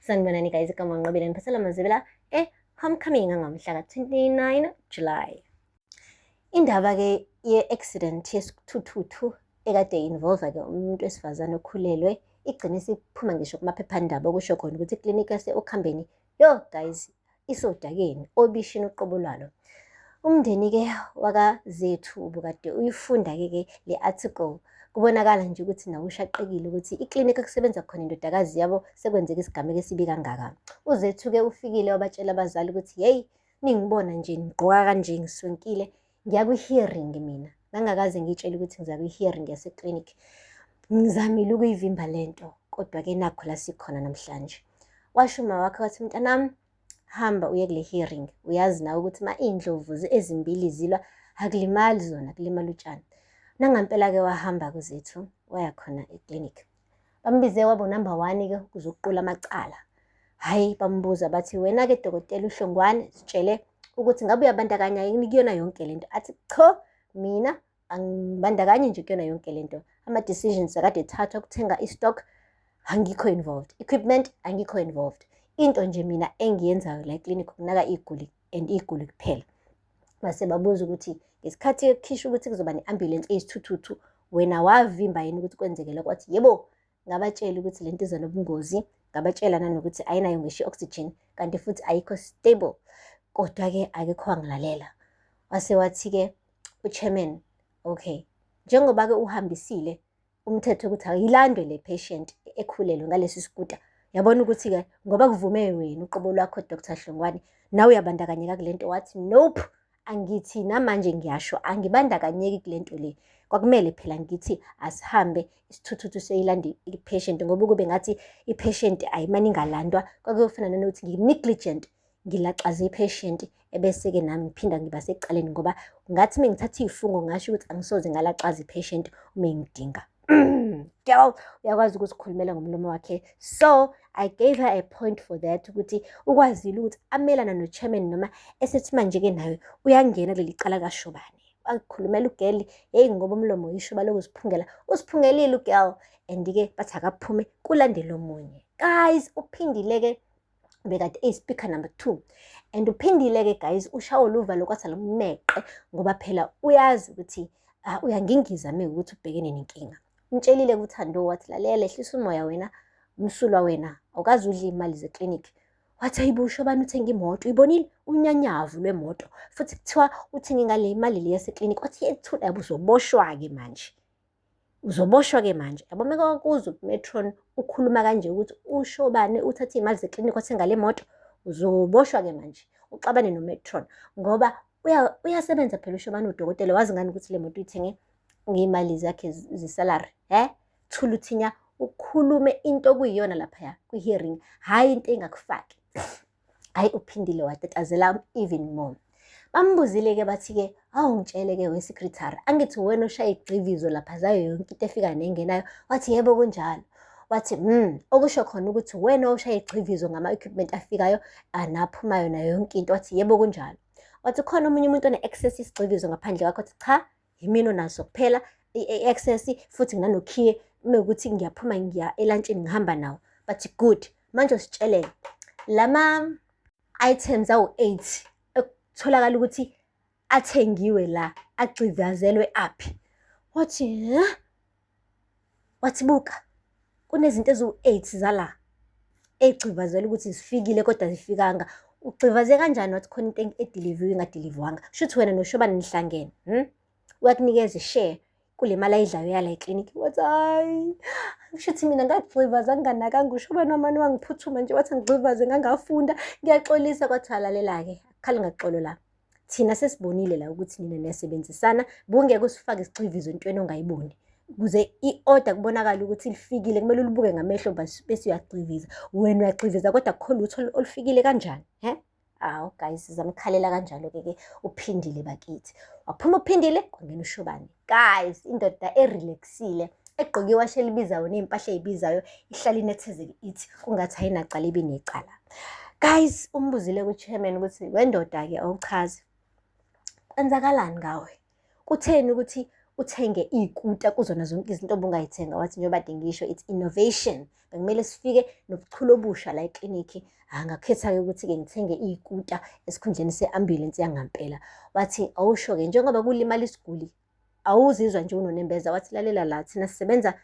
sanibonani guys igama nqobile ngiphethela mazibela e homecoming angomhla ka-29 july indaba ke ye-accident yesithuthuthu ekade involve ke umuntu wesifazane okhulelwe igcine isiphuma ngisho kumaphephandaba okusho khona ukuthi iklinikhi yase-okhambeni yo guys isodakeni obishini uqobo lwalo umndeni-ke wakazethu ubukade uyifunda-ke ke le article kubonakala nje ukuthi nawo ushaqekile ukuthi iklinikhi okusebenza khona indodakazi yabo sekwenzeka isigameko esibi kangaka uzethu-ke ufikile wabatshela abazali ukuthi yeyi ningibona nje ngigqoka kanje ngiswenkile ngiya kwi-hearing mina ngangakaze ngitshele ukuthi ngiza kwi-hearing yaseclinic ngizamile ukuyivimba le nto kodwa-ke nakho la sikhona namhlanje washo uma wakhe wathi mntanami hamba uye kule hearing uyazi nawe ukuthi ma iy'ndlovu ezimbili zilwa akulimali zona kulimala utshani nangampela-ke wahamba kuzethu waya khona eclinic Bambize wabo number one ke ukuze ukuqula amacala. Hayi bambuza bathi wena ke dokotela uhlongwane sitshele ukuthi ngabe uyabandakanya yini kuyona yonke lento. Athi cho mina angibandakanye nje kuyona yonke lento. Ama decisions akade ethathwa ukuthenga istock angikho involved. Equipment angikho involved. Into nje mina engiyenzayo la clinic ukunaka iguli and iguli kuphela base babuza ukuthi ngesikhathi ekukhisha ukuthi kuzoba ne-ambulensi eyisithuthuthu wena wavimba yini ukuthi kwenzekele kwathi yebo ngabatshela ukuthi le nto iza nobungozi ngabatshela nanokuthi ayinayo ngisho i-oxygen kanti futhi ayikho stable kodwa-ke akekho wangilalela wase wathi-ke uchairman okay njengoba-ke uhambisile umthetho ukuthi ayilandwe le patient ekhulelwe ngalesi sikuta yabona ukuthi-ke ngoba kuvume wena uqobo lwakho dr hlongwane nawe uyabandakanyeka kule nto wathi nope angithi namanje ngiyasho angibandakanyeki kule nto le kwakumele phela ngithi asihambe isithuthuthu seyilanda i-patient ngoba kube ngathi i-patient ayimane ingalandwa kwakuyofana nanokuthi ngi-negligent ngilaxaze i-patient ebese-ke nami ngiphinda ngiba secaleni ngoba ngathi uma ngithatha iy'fungo ngasho ukuthi angisoze ngalaxaza i-patient uma engidinga girl uyakwazi ukuzikhulumela ngomlomo wakhe so i gave her a point for that ukuthi ukwazile ukuthi amelana no-chairman noma esethi manje-ke nayo uyangena kuleli cala kashobane wakhulumela ugeli yeyi ngoba umlomo uyishuba lokuziphungela usiphungelile ugirl and-ke bathi akaphume kulandela omunye guys uphindile-ke bekade eyi-speaker number two and uphindile-ke guys ushawo luvalo kwatha lomneqe ngoba phela uyazi ukuthi uh, uyangingiza mina ukuthi ubhekene nenkinga umtshelile kuthando wathi lalela ehlisa umoya wena umsulwa wena awukazi udla iy'mali zeklinikhi wathi ayibusho abantu uthenga imoto uyibonile unyanyavu lwemoto futhi kuthiwa uthenge ngale mali le yaseklinikhi wathi yethula yabo uzoboshwa-ke manje Uzoboshwa-ke manje. Yabo uma kwakuzwa uMetron ukhuluma kanje ukuthi usho bani uthathe iy'mali zeklinikhi wathenga le moto, uzoboshwa-ke manje uxabane noMetron ngoba uyasebenza phela usho bani udokotela wazi ngani ukuthi le moto uyithenge ngey'mali zakhe zesalary he thuluthinya ukhulume into okuyiyona laphaya kwi-hearing hhayi into engakufaki hayi uphindile watetazela even more bambuzile-ke bathi-ke awu ngitshele-ke wesekretary angithi wena oshaya igxivizo lapha zayo yonke into efika nengenayo wathi yebo kunjalo wathi mm okusho khona ukuthi wena oshaya igxivizo ngama-equipment afikayo anaphumayo nayo yonke into wathi yebo kunjalo wathi khona omunye umuntu one-access isigxivizo ngaphandle kwakho wathi cha yimina onaso kuphela i-access futhi nginanokhiye mekuthi ngiyaphuma ngiya elantshini ngihamba nawo but good manje usitshelele lama items awu-8 ekutholakala ukuthi athengiwe la agcivazelwe aphi wathi wathi buka kunezinto eziwu-eight zala ey'gxivazela ukuthi zifikile kodwa zifikanga ugxivaze kanjani wathi khona into ediliviwe ingadilivwanga shuthi wena noshobane nihlangene hmm? uyakunikeza ishare kule mali ayidlayo yala eklinikhi wathi hayi shuthi mina ngagxivaza nginganakanga ushobane wamane wangiphuthuma nje wathi ngigxivaze ngangafunda ngiyaxolisa kwathi alalela-ke akhale ngaxolo la thina sesibonile la ukuthi nina niyasebenzisana bungeke usifake isixhivizo entweni ongayiboni kuze i-order kubonakala ukuthi lifikile kumele ulibuke ngamehlo bese uyagxiviza wena uyagxiviza kodwa kukho lutho olufikile kanjani he awu guys zamkhalela kanjalo-ke ke uphindile bakithi waphuma uphindile kwangena ushobane guys indoda erelaxile egqoke iwashi elibizayo ney'mpahla ey'bizayo ihlale inethezeke ithi kungathi ayinacala ibe necala guys umbuzile ku-chairman ukuthi wendoda-ke awuchazi kwenzakalani ngawe kutheni ukuthi uthenge iy'kuta kuzona zonke izinto obungayithenga wathi njengoba dengisho it's innovation bekumele sifike nobuchule obusha la eklinikhi ah, ngakhetha-ke ukuthi-ke ngithenge iy'kuta esikhundleni se-ambulensi yangampela wathi awusho-ke njengoba kulimala isiguli awuzizwa nje unonembeza wathi lalela la thina sisebenza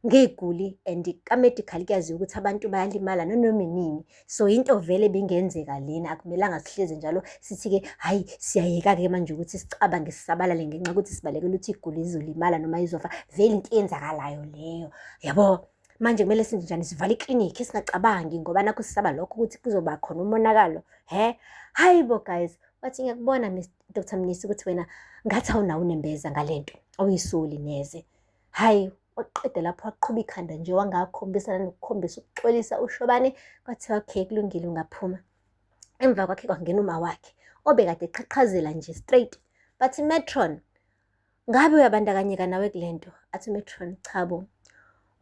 ngey'guli and ka-medical kuyaziwa ukuthi abantu bayalimala nanoma inini so into vele bingenzeka lena akumelanga sihlezi njalo sithi-ke hhayi siyayeka-ke manje ukuthi sicabange sisabalale ngenxa yokuthi sibalekela ukuthi iguli izolimala noma izofa vele into eyenzakalayo leyo yabo manje kumele senze njani sivale iklinikhi singacabangi ngoba nakho sisaba lokho ukuthi kuzoba khona umonakalo he hayi bo guys wathi ngiyakubona dr mnisi ukuthi wena ngathi awunawo unembeza ngale nto awuyisoli neze hhayi waqede lapho waqhuba ikhanda nje wangakhombisa nanokukhombisa ukuxolisa ushobane kwathiwa okay kulungile ungaphuma emva kwakhe kwangena uma wakhe obekade eqhaqhazela nje straight bathi metron Ngabe uyabandakanyeka nawe kule nto? Athi uMetron, cha bo.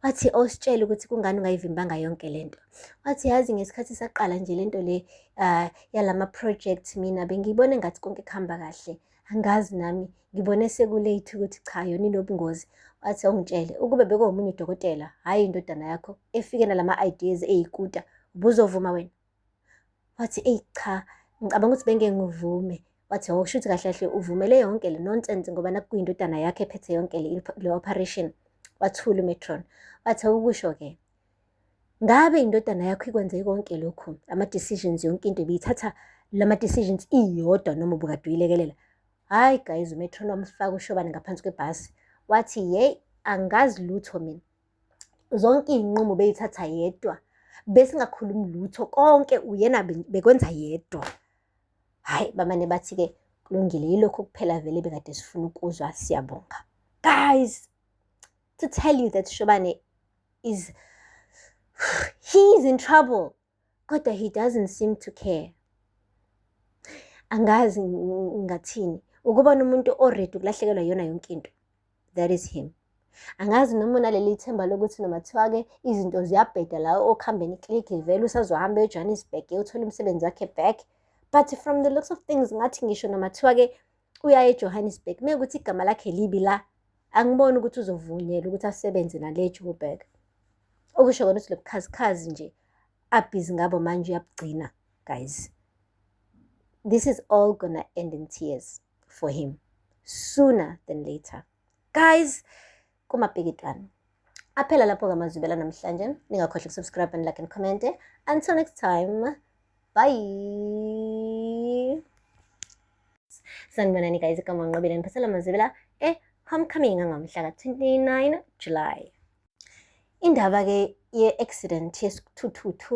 Wathi ositshele ukuthi kungani ungayivimbanga yonke le nto. Wathi yazi ngesikhathi saqala nje le nto le uh, yalama project mina bengiyibone ngathi konke kuhamba kahle. Angazi nami ngibone sekulate ukuthi cha yona inobungozi. Wathi awungitshele ukube bekuwomunye udokotela, hhayi indodana yakho efike nalama ideas eyikuta, ubuzovuma wena? wathi eyi cha ngicabanga ukuthi bengeke ngivume wathi hawu shuthi kahle kahle uvumele yonke le nonsense ngoba nakuyindodana yakhe ephethe yonke le operation wathula umetron wathi ukusho-ke ngabe indodana yakho ikwenze konke lokhu ama-decisions yonke into ibiyithatha lama-decisions iyodwa noma ubukade uyilekelela hhayi guys umetron wamfaka ushobane ngaphansi kwebhasi wathi yeyi angazi lutho mina zonke iy'nqumo beyithatha yedwa besingakhulumi lutho konke uyena bekwenza yedwa hhayi bamane bathi-ke kulungile yilokho kuphela vele bekade sifuna ukuzwa siyabonga guys to tell you that shobane is he's in trouble kodwa he doesn't seem to care angazi ngathini ukuba nomuntu oready ukulahlekelwa yona yonke into that is him angazi noma unaleli themba lokuthi noma kuthiwa-ke izinto ziyabheda la okuhambeni click vele usazohamba ejohannesburg uthole umsebenzi wakhe back but from the looks of things ngathi ngisho noma kuthiwa-ke uyaye eJohannesburg mekuthi igama lakhe libi la angiboni ukuthi uzovunyelwa ukuthi asebenze nale Joburg okusho kona ukuthi lobukhazikhazi nje abhizi ngabo manje uyabugcina guys this is all gonna end in tears for him sooner than later guys kumapikitwana aphela lapho kamazwibela namhlanje ningakhohlwa ukusubscribe and like and comment until next time bye sanibonani guys igama nqobile niphathela mazibela eh homecoming angomhla ka-29 july indaba-ke ye-accident yesithuthuthu